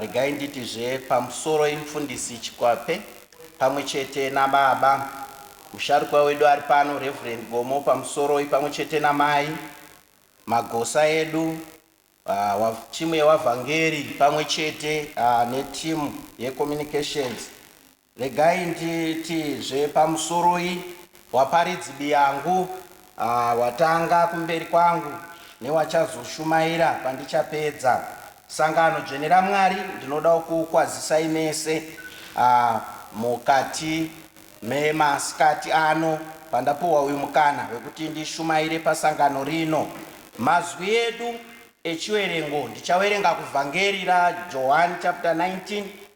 Regai nditi zve pamusoro imfundisi Chikwape pamwe chete na baba musharukwa wedu ari pano Reverend Gomo pamusoroi pamwe chete na mai Magosa edu wa team yewa vhangeri pamwe chete ne team ye communications Regai nditi zve pamusoroi waparidzi biyangu ah watanga kumberi kwangu newachazoshumaira pandichapedza sangano dzvene raMwari ndinodawo kuukwazisai mese ah mukati memaskati ano pandapuhwa uyu mukana wekuti ndishumaire pasangano rino mazwi edu echiwerengo ndichawerenga kuvhangeri raJohani chapter 19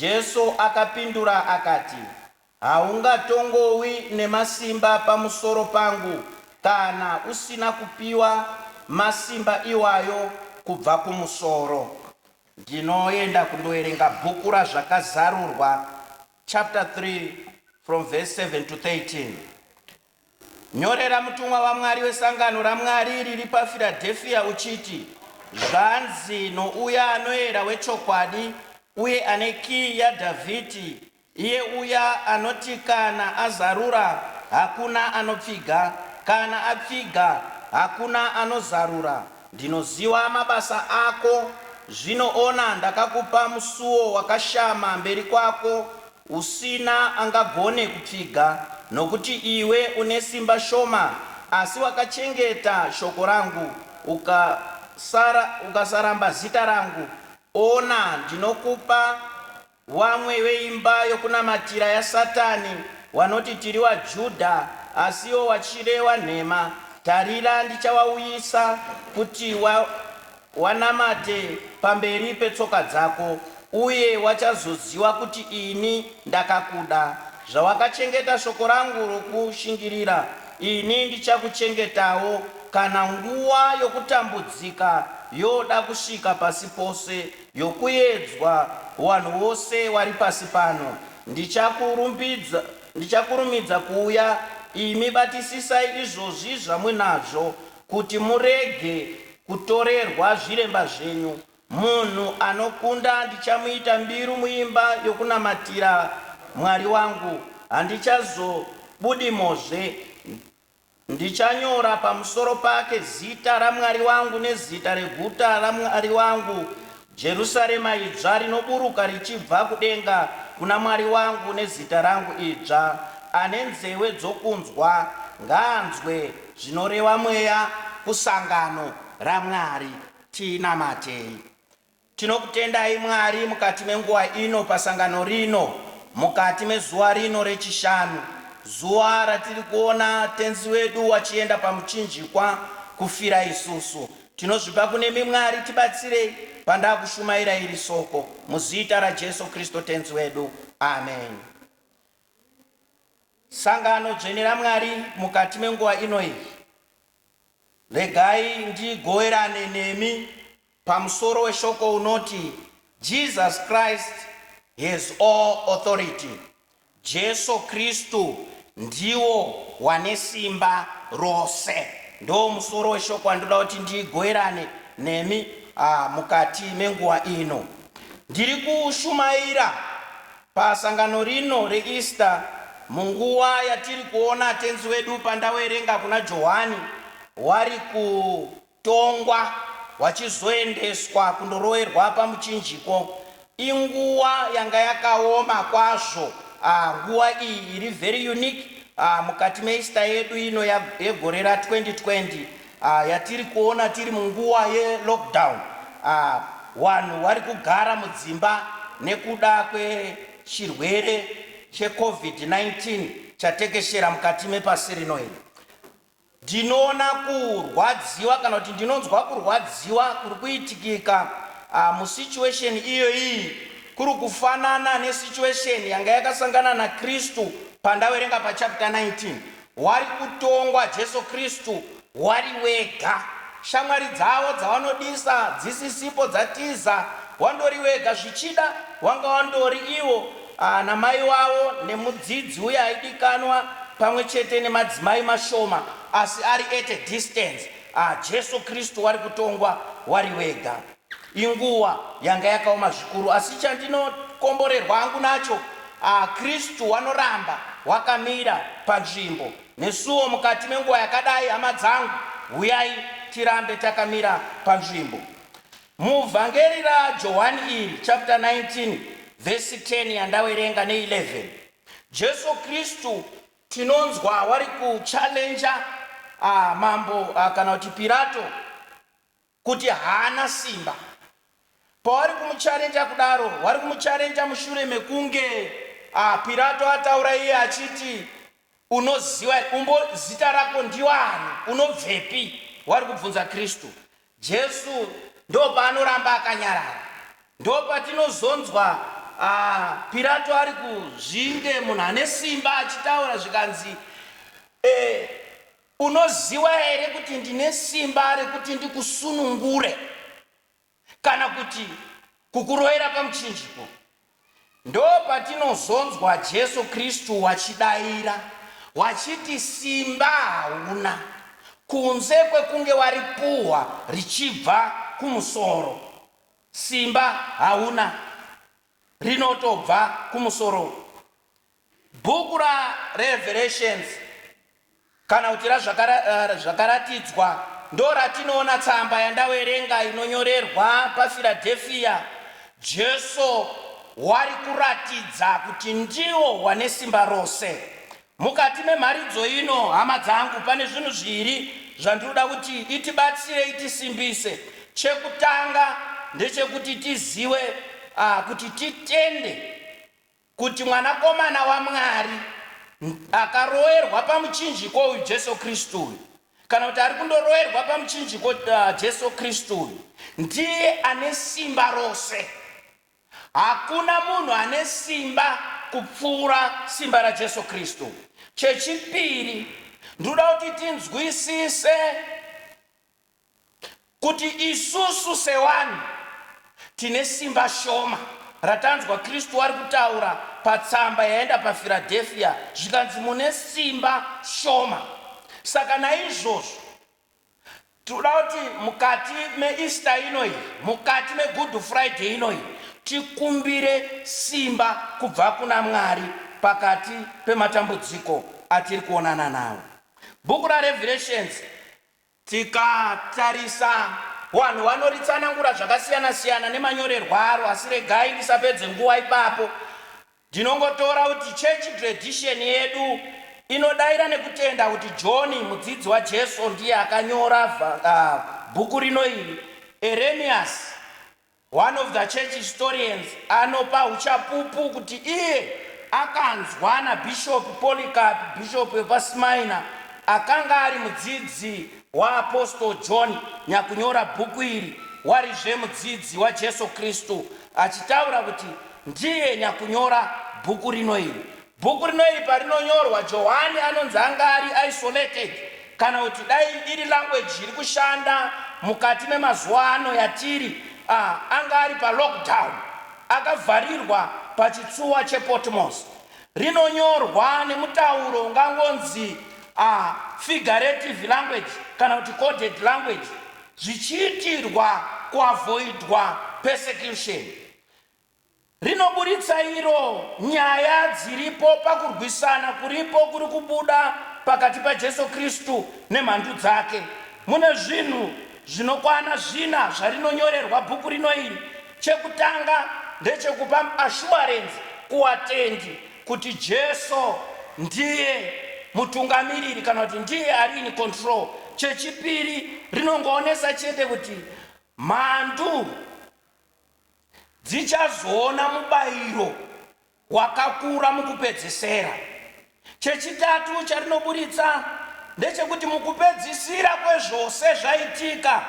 Jesu akapindura akati, Haungatongowi nemasimba pamusoro pangu kana usina kupiwa masimba iwayo kubva kumusoro. Ndinoenda kundoverenga bhuku raZvakazarurwa chapter 3 from verse 7 to 13. Nyorera mutumwa waMwari wesangano raMwari riri paFiradhefiya uchiti, Zvanzi nouya anoera wechokwadi uye ane kiyi yaDhavhidhi, iye uya anoti kana azarura, hakuna anopfiga, kana apfiga, hakuna anozarura, Ndinoziva mabasa ako, zvino ona, ndakakupa musuo wakashama mberi kwako, Usina angagone kupfiga, nokuti iwe une simba shoma, asi wakachengeta shoko rangu, ukasara, ukasaramba zita rangu, ona, ndinokupa vamwe veimba yokunamatira yaSatani, wanoti, Tiri waJudha, asi iwo wachireva nhema, tarira, ndichavauyisa kuti wa, Wanamate pamberi petsoka dzako, uye wachazoziva kuti ini ndakakuda. Zvawakachengeta shoko rangu rokushingirira, ini ndichakuchengetawo, kana nguva yokutambudzika yoda kusvika pasi pose, yokuedzwa kuvanhu vose vari pasi pano. Ndichakurumbidza, ndichakurumidza kuuya, imi batisisai izvozvi zvamuinazvo. Kuti murege kutorerwa zviremba zvenyu. Munhu anokunda ndichamuita mbiru muimba yokunamatira Mwari wangu, handichazobudimozve. Ndichanyora pamusoro pake zita raMwari wangu nezita reguta raMwari wangu, Jerusarema idzva rinoburuka richibva kudenga kuna Mwari wangu nezita rangu idzva, ane nzewe dzokunzwa ngaanzwe zvinoreva Mweya kusangano raMwari. Tinamatei. Tinokutendai Mwari mukati menguva ino pasangano rino, mukati mezuva rino rechishanu, zuva ratiri kuona Tenzi wedu wachienda pamuchinjikwa kufira isusu. Tinozvipa kunemi Mwari tibatsirei pandakushumaira iri soko muzita raJesu Kristo Tenzi wedu. Amen. Sangano dzvene raMwari mukati menguva ino iyi, regai ndigoverane nemi pamusoro weshoko unoti Jesus Christ has all authority. Jesu Kristu ndiwo wane simba rose. Ndoo musoro weshoko wandinoda kuti ndigoverane nemi mukati menguva ino. Ndiri kushumaira pasangano rino reEaster munguva yatiri kuona Tenzi wedu pandaverenga kuna Johwani wari ku. Tongwa hwachizoendeswa kundoroerwa pamuchinjiko. Inguwa yanga yakaoma kwazvo ah nguwa iyi iri very unique ah mukati meEaster yedu ino yegore ra 2020 ah yatiri kuona tiri munguwa ye lockdown ah wanhu wari kugara mudzimba nekuda kwe chirwere che Covid 19 chatekeshera mukati mepasi rino iri Ndinoona kurwadziwa kana kuti ndinonzwa kurwadziwa kuri kuitikika musituation iyoyi kuri kufanana nesituation yanga yakasangana naKristu pandaverenga pachapter 19. Wari kutongwa Jesu Kristu wari wega. Shamwari dzavo dzavanodisa dzisisipo dzatiza wandori wega zvichida wanga wandori ivo Ana mai wavo nemudzidzi uye aidikanwa pamwe chete nemadzimai mashoma asi ari at a distance. Ahh Jesu Kristu wari kutongwa wari wega. Inguwa yanga yakaoma zvikuru asi chandinokomborerwa hangu nacho ahh Kristu wanoramba wakamira panzvimbo nesuwo mukati menguva yakadai hama dzangu huyai tirambe takamira panzvimbo. Muvhangeri raJohani iri, chapter 19 verse 10 yandawerenga ne 11, Jesu Kristu tinonzwa wari ku challenger mambo kana kuti Pirato kuti haana simba. Pawari kumuchallenger kudaro, wari kumuchallenger mushure mekunge Pirato ataura iye achiti Unoziva here? Umbo, zita rako ndiani? Unobvepi? Wari kubvunza Kristu. Jesu ndopaanoramba akanyarara. Ndopatinozonzwa a, Pirato ari kuzvinge munhu ane simba achitaura zvikanzi, E, unoziva here kuti ndine simba rekuti ndikusunungure? kana kuti kukuroyera pamuchinjiko, ndopatinozonzwa Jesu Kristu wachidaira wachiti simba hauna kunze kwekunge waripuhwa richibva kumusoro. Simba hauna rinotobva kumusoro Bhuku raRevelations, kana kuti raZvakaratidzwa, ndoratinoona tsamba yandaverenga inonyorerwa paFiradhefiya. Jesu wari kuratidza kuti ndiwo wane simba rose. Mukati memharidzo ino, hama dzangu, pane zvinhu zviri zvandinoda kuti itibatsire, itisimbise. Chekutanga ndechekuti tizive kuti titende Kuti Mwanakomana waMwari akaroerwa pamuchinjiko uyu, Jesu Kristu uyu, kana kuti ari kundoroerwa pamuchinjiko, Jesu Kristu uyu, ndiye ane simba rose. Hakuna munhu ane simba kupfuura simba raJesu Kristu. Chechipiri, ndinoda kuti tinzwisise kuti isusu sewanhu tine simba shoma ratanzwa Kristu ari kutaura patsamba yaenda paFiradhefia zvikanzi mune simba shoma. Saka naizvozvo tinoda kuti mukati meEaster inoyi, mukati meGood Friday inoyi, tikumbire simba kubva kuna Mwari pakati pematambudziko atiri kuonana nawo. Bhuku raRevirations Tikatarisa wanhu wanoritsanangura zvakasiyana siyana nemanyorerwo aro asi regai ndisapedze nguva ipapo ndinongotora kuti church tradition yedu inodaira nekutenda kuti John mudzidzi waJesu ndiye akanyora bhuku rino iri Erenius One of the church historians anopa huchapupu kuti iye akanzwa naBishop Polycarp, bishop wepaSmyrna, akanga ari mudzidzi waApostle John nyakunyora bhuku iri, warizve mudzidzi waJesu Kristu, achitaura kuti ndiye nyakunyora bhuku rino iri. Bhuku rino iri parinonyorwa, Johani anonzi anga ari isolated, kana kuti dai iri language iri kushanda mukati memazuva ano yatiri, a anga ari palockdown, akavharirwa pachitsuwa chePotmos. Rinonyorwa nemutauro ungangonzi a figurative language kana kuti coded language zvichiitirwa kuavoidwa persecution. rinoburitsa iro nyaya dziripo pakurwisana kuripo kuri kubuda pakati paJesu Kristu nemhandu dzake. Mune zvinhu zvinokwana zvina zvarinonyorerwa bhuku rino iri. Chekutanga ndechekupa ashuwarenzi kuvatendi kuti Jesu ndiye mutungamiriri kana kuti ndiye ari in control. Chechipiri rinongoonesa chete kuti mhandu. dzichazoona mubayiro wakakura mukupedzisira. Chechitatu charinoburitsa ndechekuti mukupedzisira kwezvose zvaitika,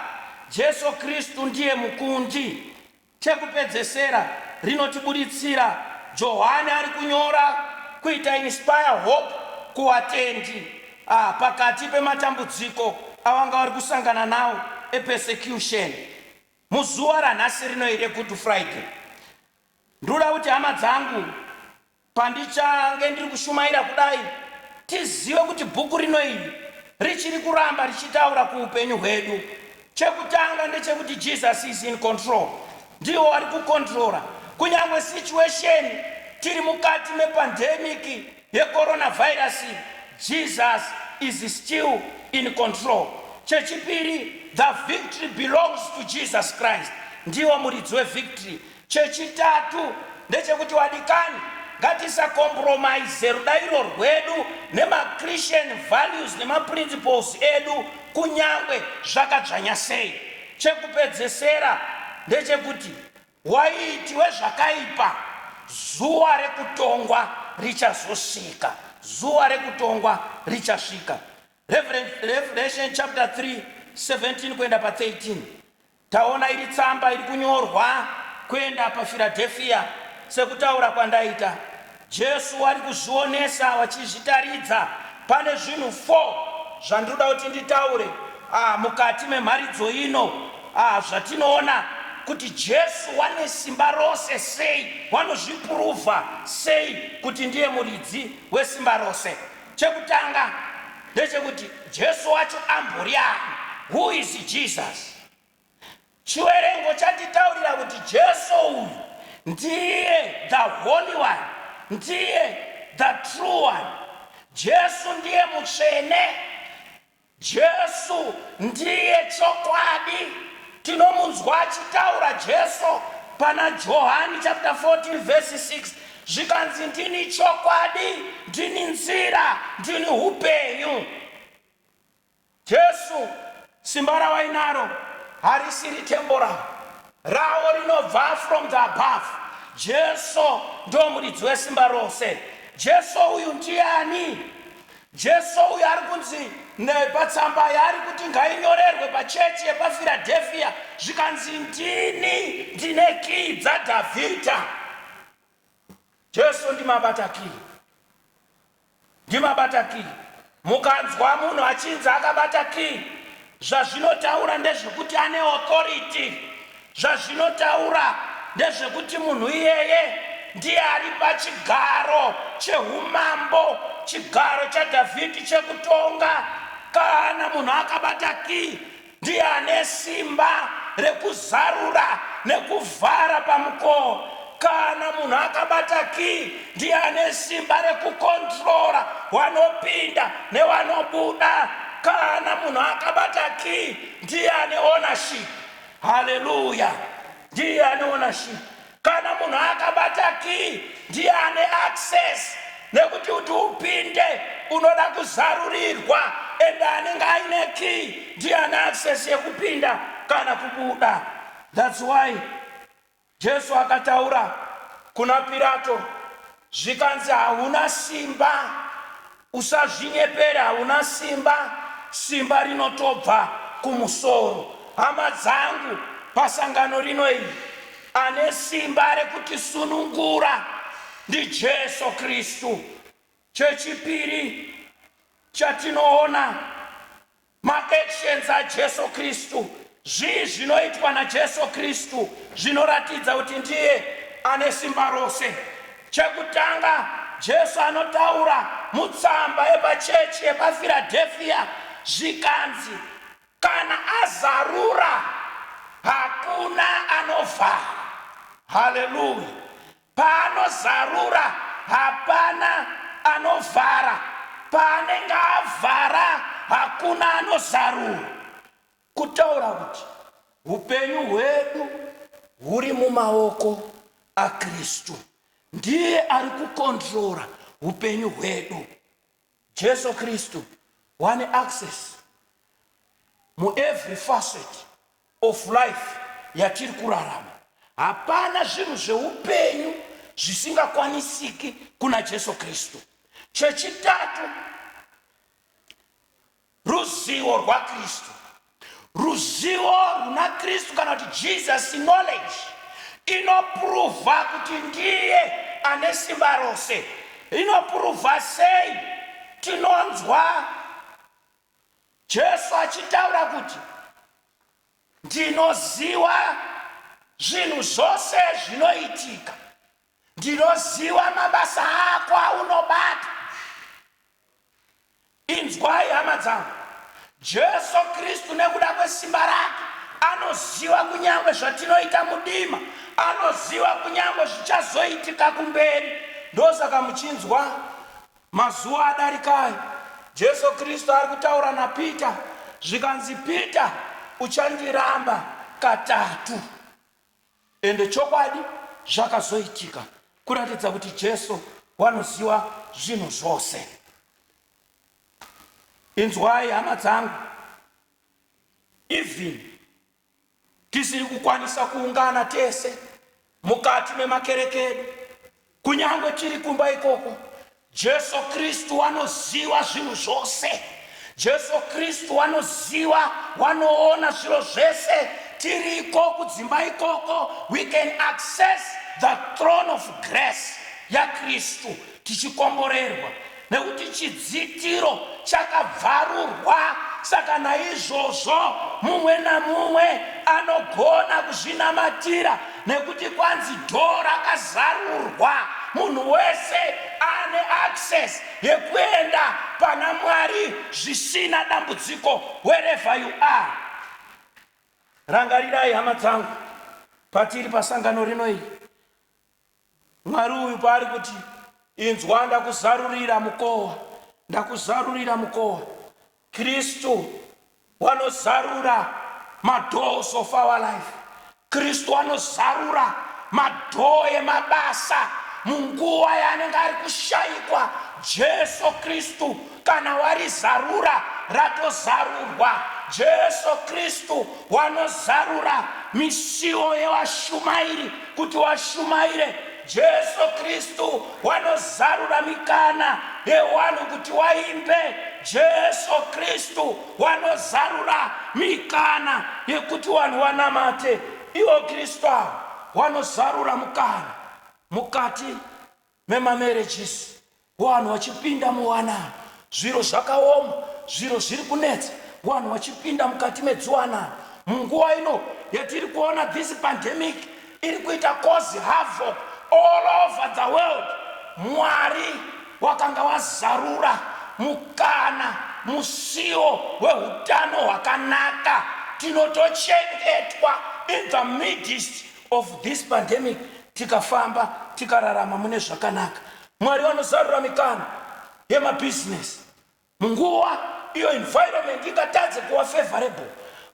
Jesu Kristu ndiye mukundi. Chekupedzesera rinotiburitsira Johani ari kunyora kuita inspire hope kuwatendi ah, pakati pematambudziko avanga vari kusangana nawo epersecution. Muzuva ranhasi rino iri reGood Friday, ndinoda kuti hama dzangu, pandichange ndiri kushumaira kudai, tizive kuti bhuku rino iri richiri kuramba richitaura kuupenyu hwedu. Chekutanga ndechekuti Jesus is in control. Ndivo vari kucontroller kunyangwe situation tiri mukati mepandemic. yecoronavirus Jesus is still in control chechipiri the victory belongs to Jesus Christ ndiwo muridzi wevictory chechitatu ndechekuti wadikani ngatisacompromise rudairo rwedu nemachristian values nemaprinciples edu kunyangwe zvakadzvanya sei chekupedzesera ndechekuti Waiti wezvakaipa, zuva rekutongwa richazosvika, zuva rekutongwa richasvika. Revelation chapter 3 17 kuenda pa 13 taona iri tsamba iri kunyorwa kuenda paFiradhefiya sekutaura kwandaita Jesu wari kuzvionesa wachizvitaridza. Pane zvinhu four zvandinoda kuti nditaure ah, mukati memharidzo ino ah, zvatinoona kuti Jesu wane simba rose sei, wanozvipuruvha sei kuti ndiye muridzi wesimba rose. Chekutanga ndechekuti Jesu wacho ambori ani? Who is Jesus? Chiwerengo chatitaurira kuti Jesu uyu ndiye the holy one, ndiye the true one. Jesu ndiye mutsvene. Jesu ndiye chokwadi. Tinomunzwa achitaura Jesu pana Johani chapter 14 verse 6 zvikanzi ndini chokwadi, ndini nzira, ndini upenyu. Jesu, simba rawainaro harisiri temporal, rawo rinobva from the above. Jesu ndomuridzi wesimba rose. Jesu uyu ndiani? Jesu uyu ari kunzi nepatsamba yaari kuti ngainyorerwe pachechi yepaFiradhefia zvikanzi ndini ndine kiyi dzaDhavhidha. Jesu ndimabata kiyi. Ndimabata key. Mukanzwa munhu achinzi akabata key zvazvinotaura ndezvekuti ane authority. Zvazvinotaura ndezvekuti munhu iyeye ndiye ari pachigaro chehumambo, chigaro chaDhavhidhi chekutonga. Kana munhu akabata key Ndiye ane simba rekuzarura nekuvhara pamukowo. Kana munhu akabata kiyi, ndiye ane simba rekukondirora wanopinda newanobuda. Kana munhu akabata kiyi, ndiye ane ownership. Haleluya! Ndiye ane ownership. Kana munhu akabata key ndiye ane access nekuti kuti upinde unoda kuzarurirwa and anenge aine key ndiye ane access yekupinda kana kubuda. That's why Jesu akataura kuna Pirato zvikanzi hauna simba usazvinyepere hauna simba simba rinotobva kumusoro hama dzangu pasangano rino iri ane simba rekutisunungura ndijesu kristu chechipiri chatinoona Ma actions a Jesu Kristu, Zvii zvinoitwa na Jesu Kristu zvinoratidza kuti ndiye ane simba rose? Chekutanga, Jesu anotaura mutsamba yepa chechi yepa Firadhefiya zvikanzi, Kana azarura, hakuna anovhara. Hallelujah! Paanozarura hapana anovhara, paanenge avhara hakuna anozarura. Kutaura kuti hupenyu hwedu huri mumaoko aKristu. Ndiye ari kukondirora hupenyu hwedu. Jesu Kristu wane access mu every facet of life yatiri kurarama. Hapana zvinhu zveupenyu zvisingakwanisiki kuna Jesu Kristu. Chechitatu, Ruzivo rwaKristu. Ruzivo runa Kristu kana kuti Jesus knowledge inopuruva kuti ndiye ane simba rose. Inopuruva sei? Tinonzwa Jesu achitaura kuti ndinoziva zvinhu zvose zvinoitika, ndinoziva mabasa ako aunobata, Inzwai, hama dzangu, Jesu Kristu nekuda kwesimba rake anoziva kunyangwe zvatinoita mudima, anoziva kunyangwe zvichazoitika kumberi. Ndosaka muchinzwa mazuva adarika ayo Jesu Kristu ari kutaura naPita zvikanzi, Pita, uchandiramba katatu. Ende chokwadi zvakazoitika kuratidza kuti Jesu wanoziva zvinhu zvose. Inzwai hama dzangu, even tisiri kukwanisa kuungana tese mukati memakereke edu, Kunyangwe tiri kumba ikoko, Jesu Kristu wanoziva zvinhu zvose. Jesu Kristu wanoziva, wanoona zviro zvese. Tiri iko kudzimba ikoko, we can access the throne of grace yaKristu tichikomborerwa. Nekuti chidzitiro chakabvarurwa, saka naizvozvo mumwe namumwe anogona kuzvinamatira, nekuti kwanzi door rakazarurwa, munhu wese ane access yekuenda pana Mwari zvisina dambudziko wherever you are. Rangarirai hama dzangu, patiri pasangano rino iri, Mwari uyu paari kuti inzwa ndakuzarurira mukowa ndakuzarurira mukowa kristu wanozarura madoors of our life kristu anozarura madhoo emabasa munguva yaanenge ari kushaikwa jesu kristu Kana warizarura, ratozarurwa. Jesu Kristu wanozarura misiwo yevashumairi kuti washumaire. Jesu Kristu wanozarura mikana yewanhu kuti waimbe. Jesu Kristu wanozarura mikana yekuti wanhu wanamate. Iwo Kristu awo wanozarura mukana mukati memamarriages wanhu wachipinda muwanano zviro zvakaoma zviro zviri kunetsa wanhu wachipinda mukati medziwanano munguva ino yatiri kuona this pandemic iri kuita cause havoc all over the world mwari wakanga wazarura mukana musiwo wehutano hwakanaka tinotochengetwa in the midst of this pandemic tikafamba tikararama mune zvakanaka mwari vanozarura mikana yemabusiness munguva iyo environment ingatadze kuva favorable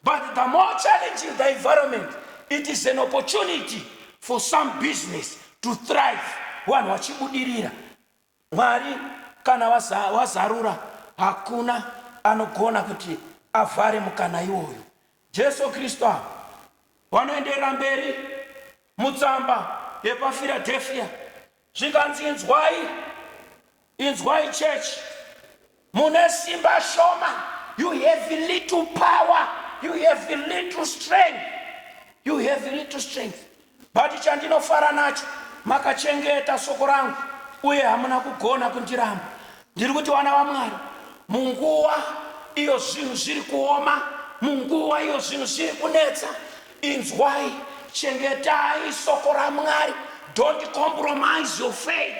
but the more challenging the environment it is an opportunity for some business to thrive vanhu vachibudirira Mwari kana wazarura hakuna anogona kuti avhare mukana iwoyo. Jesu Kristu ava vanoenderera mberi mutsamba yepaFiradhefiya zvikanzi, Inzwai, inzwai chechi. Mune simba shoma, you have little power, you have little strength, you have little strength. But chandinofara nacho, makachengeta soko rangu uye hamuna kugona kundiramba. Ndiri kuti vana vaMwari, munguva iyo zvinhu zviri kuoma, munguva iyo zvinhu zviri kunetsa, Inzwai, chengetai soko raMwari. Don't compromise your faith.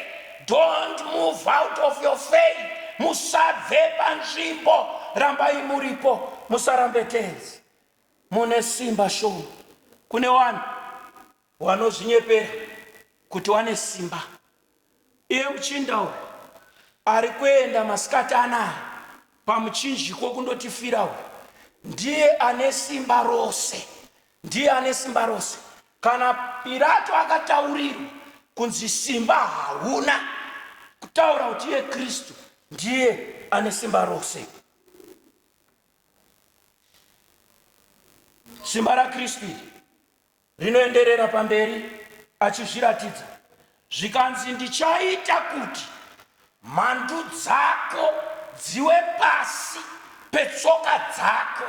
Don't move out of your faith. Musabve panzvimbo, rambai muripo. Musarambe tenzi, mune simba shoma. Kune vanhu vanozvinyepera kuti wane simba, Iye muchinda uyu arikuenda masikati anaya pamuchinjiko kundotifira uyu ndiye ane simba rose ndiye ane simba rose kana pirato akataurirwa kunzi simba hauna kutaura kuti iye kristu ndiye ane simba rose simba rakristu iri rinoenderera pamberi achizviratidza zvikanzi ndichaita kuti mhandu dzako dziwe pasi petsoka dzako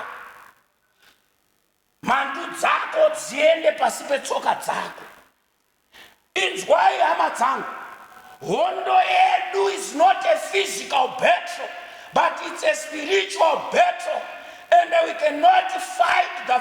mhandu dzako dziende pasi petsoka dzako Inzwai hama dzangu, hondo yedu is not a physical battle but it's a spiritual battle and we cannot fight the,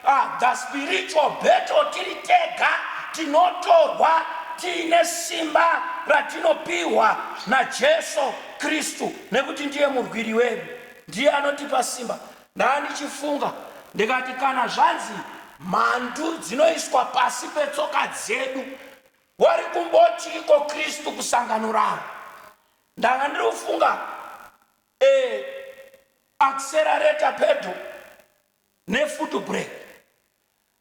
uh, the spiritual battle tiri tega, tinotorwa tiine simba ratinopiwa naJesu Kristu nekuti ndiye murwiri wedu, ndiye anotipa simba Ndandichifunga ndikati kana zvanzi mhandu dzinoiswa pasi petsoka dzedu wari kumbotiiko Kristu kusangano rawo? Ndanga ndiri kufunga e accelerator pedal ne foot brake.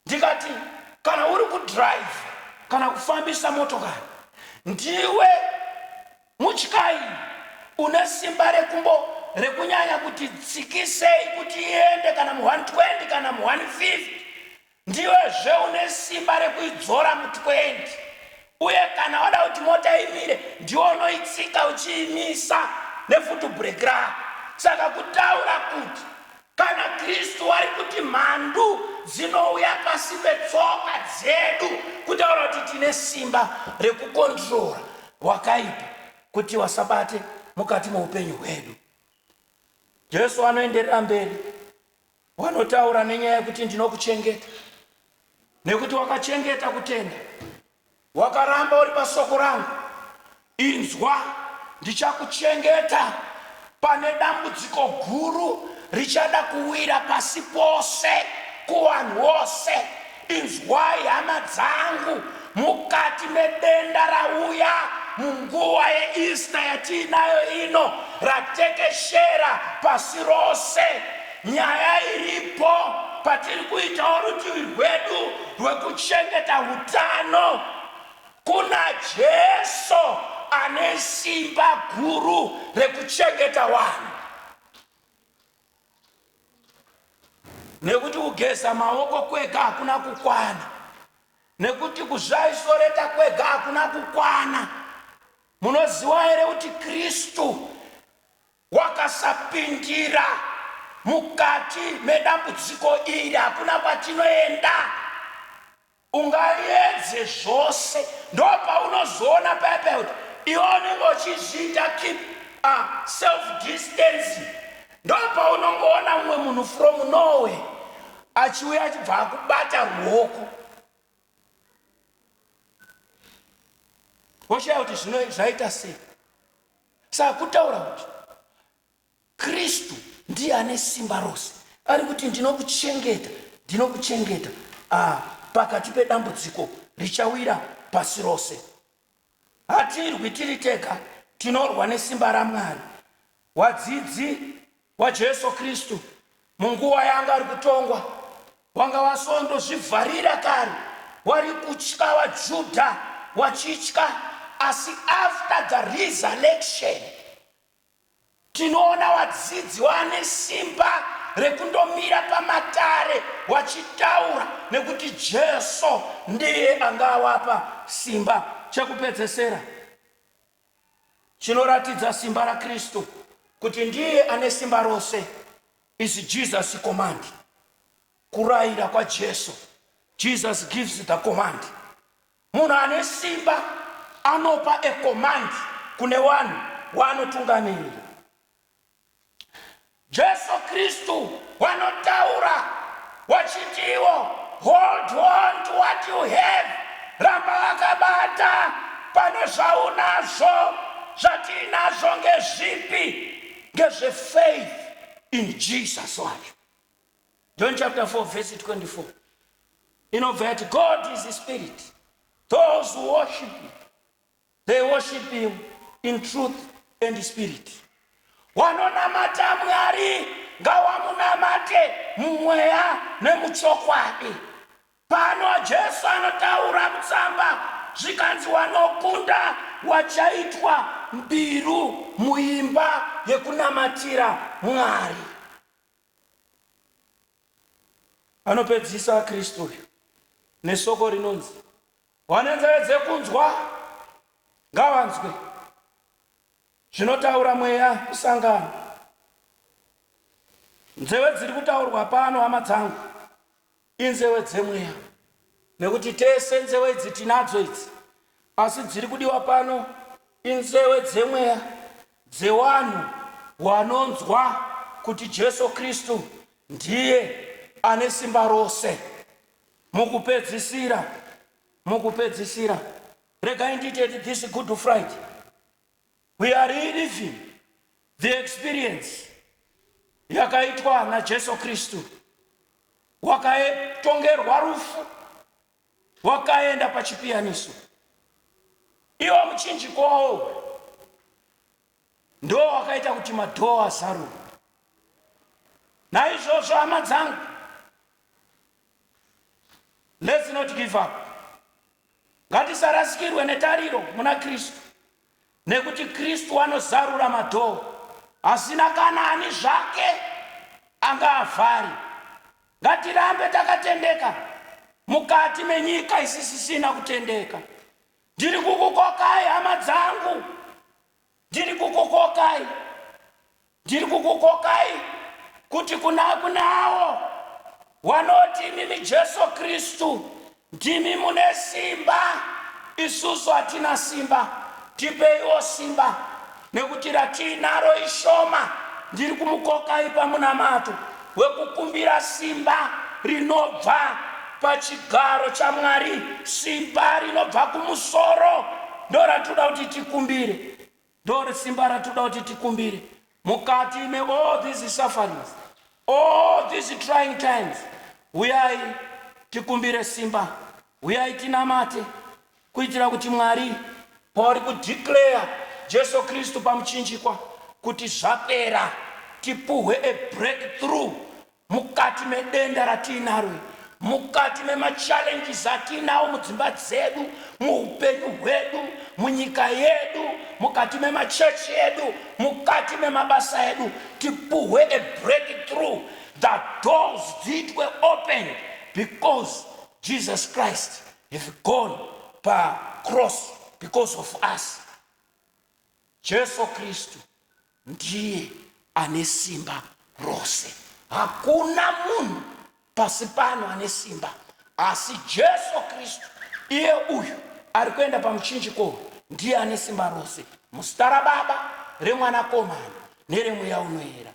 ndikati kana uri kudhiraivha kana kufambisa motokari ndiwe mutyairi une simba rekumbo rekunyanya kuti tsikisei kuti iende kana mu 120 kana mu 150 ndiwezve une simba rekuidzora mu 20 uye kana wada kuti mota imire ndiwo unoitsika uchiimisa nefutu break rako saka kutaura kuti Kana Kristu ari kuti mhandu dzinouya pasi petsoka dzedu, kutaura kuti tine simba rekukondirora wakaipa kuti wasabate mukati meupenyu hwedu. Jesu anoenderera mberi, wanotaura nenyaya yekuti ndinokuchengeta nekuti wakachengeta kutenda Wakaramba uri pasoko rangu, inzwa, ndichakuchengeta pane dambudziko guru richada kuwira pasi pose kuvanhu vose. Inzwai, hama dzangu, mukati medenda rauya munguva yeEaster yatiinayo ino, ratekeshera pasi rose, Nyaya iripo patiri kuitawo rutivi rwedu rwekuchengeta utano kuna Jesu ane simba guru rekuchengeta vanhu. Nekuti kugeza maoko kwega hakuna kukwana, nekuti kuzvaisoreta kwega hakuna kukwana. Munoziva here kuti Kristu Wakasapindira mukati medambudziko iri hakuna kwatinoenda. Ungaedze zvose ndopaunozoona paya paya kuti iwe unenge uchizviita keep a self distance ndopaunongoona mumwe munhu from Norway achiuya achibva akubata ruoko woshaya kuti zvino zvaita sei Saka kutaura kuti Kristu ndiye ane simba rose, ari kuti ndinokuchengeta, ndinokuchengeta ah, pakati pedambudziko richawira pasi rose. Hatirwi tiri tega, tinorwa nesimba raMwari. Wadzidzi waJesu Kristu munguva yaanga ari kutongwa wanga wasondozvivharira kare wari kutya vaJudha wachitya asi after the resurrection tinoona vadzidzi vane simba rekundomira pamatare vachitaura nekuti Jesu ndiye anga awapa simba chekupedzesera chinoratidza simba raKristu kuti ndiye ane simba rose is Jesus command. Kurayira kwaJesu. Jesus gives the command. Munhu ane simba anopa a command kune vanhu waanotungamirira. Jesu Kristu wanotaura wachitiwo hold on to what you have, ramba wakabata pane zvaunazvo. Zvatiinazvo ngezvipi? Ngezve faith in Jesus wacho. John chapter 4 verse 24 inobva yati God is spirit those who worship him They worship him in truth and spirit. Wanonamata Mwari ngawamunamate mumweya nemuchokwadi. Pano Jesu anotaura mutsamba zvikanzi wanokunda wachaitwa mbiru muimba yekunamatira Mwari. Anopedzisa Kristu uyu nesoko rinonzi Vane nzeve dzekunzwa ngavanzwe zvinotaura mweya kusangana. Nzeve dziri kutaurwa pano hama dzangu inzeve dzemweya nekuti tese nzeve idzi tinadzo idzi asi dziri kudiwa pano inzeve dzemweya dzewanhu wanonzwa kuti Jesu Kristu ndiye ane simba rose. Mukupedzisira, mukupedzisira, regai ndiite this Good Friday. We are reliving the experience yakaitwa naJesu Kristu wakatongerwa rufu wakaenda pachipiyaniso iwo muchinjiko wawo ndo wakaita kuti madhoo azaruke naizvozvo hama dzangu let's not give up ngatisarasikirwe netariro muna kristu nekuti kristu anozarura madhoo asina kana ani zvake anga avhari ngatirambe takatendeka mukati menyika isisisina kutendeka Ndiri kukukokai hama dzangu, ndiri kukukokai, ndiri kukukokai kuti kuna kunawo wanoti imimi Jesu Kristu ndimi mune simba, isusu hatina simba, tipeiwo simba. Nekuti ratiinaro ishoma, ndiri kumukokai pamunamato wekukumbira simba rinobva pachigaro chaMwari, simba rinobva kumusoro. Ndoratoda kuti tikumbire. Ndori simba ratoda kuti tikumbire. Mukati me all these sufferings, all these trying times, huyai tikumbire simba. Huyai tinamate. Kuitira kuti Mwari pauri ku declare Jesu Kristu pamuchinjikwa kuti zvapera tipuhwe a break through mukati medenda ratiinaro iri, mukati mema challenges atiinawo mudzimba dzedu, muhupenyu hwedu, munyika yedu, mukati mema church edu, mukati memabasa edu tipuhwe a break through the doors dziitwe opened because Jesus Christ have gone pa cross because of us. Jesu Kristu ndiye ane simba rose. Hakuna munhu pasi pano ane simba asi Jesu Kristu iye uyu ari kuenda pamuchinjiko ndiye ane simba rose muzita raBaba remwanakomana neremweya unoera.